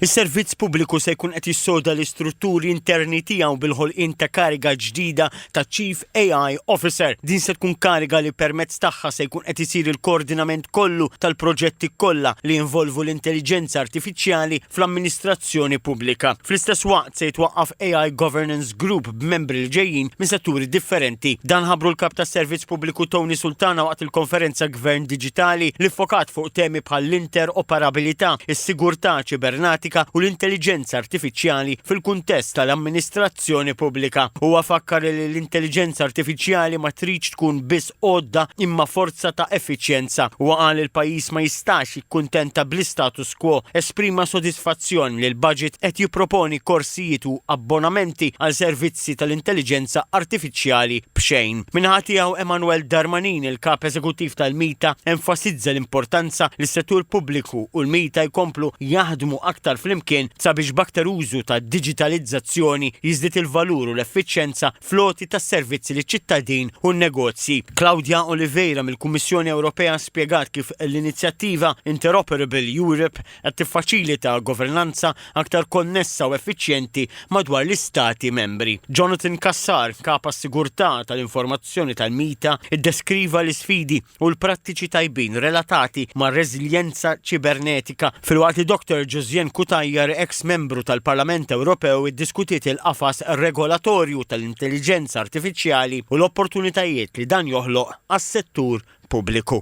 Is-servizz pubbliku se jkun qed jissoda l-istrutturi interni tiegħu bil-ħolqien ta' kariga ġdida ta' Chief AI Officer. Din se tkun kariga li permezz tagħha se jkun qed isir il-koordinament kollu tal-proġetti kollha li jinvolvu l-intelliġenza artifiċjali fl-amministrazzjoni pubblika. Fl-istess waqt se jitwaqqaf AI Governance Group, b'membri li ġejjin minn setturi differenti. Dan ħabbru l-Kap tas-Servizz Pubbliku Tony Sultana waqt il-konferenza Gvern Diġitali li ffokat fuq temi bħall-interoperabilità, is-sigurtà ċibernatika u l-intelliġenza artifiċjali fil-kuntest tal-amministrazzjoni pubblika. Huwa fakkar li l-intelliġenza artifiċjali ma tridx tkun biss għodda imma forza ta' effiċjenza. Huwa qal li l-pajjiż ma jistax jikkuntenta bl-istatus quo. Esprima sodisfazzjon li l-budget qed jipproponi korsijiet u abbonamenti għal servizzi tal-intelliġenza artifiċjali b'xejn. Min-naħa tiegħu Emmanuel Darmanin, il-Kap Eżekuttiv tal-MITA, enfasizza l-importanza li s-settur pubbliku u l-MITA jkomplu jaħdmu aktar flimkien sabiex b'aktar użu tad-diġitalizzazzjoni jiżdied il-valur u l-effiċjenza fl-għoti tas-servizzi liċ-ċittadin u n-negozji. Claudia Oliveira mill-Kummissjoni Ewropea spjegat kif l-inizjattiva Interoperable Europe qed tiffaċilita governanza aktar konnessa u effiċjenti madwar l-Istati Membri. Jonathan Cassar, Kap għas-Sigurtà tal-Informazzjoni tal-MITA, iddeskriva l-isfidi u l-prattiċi tajbin relatati mar-reżiljenza ċibernetika, filwaqt li Dottor Josiane Cutajar, eks Membru tal-Parlament Ewropew, iddiskutiet il-qafas regolatorju tal-intelliġenza artifiċjali u l-opportunitajiet li dan joħloq għas-settur pubbliku.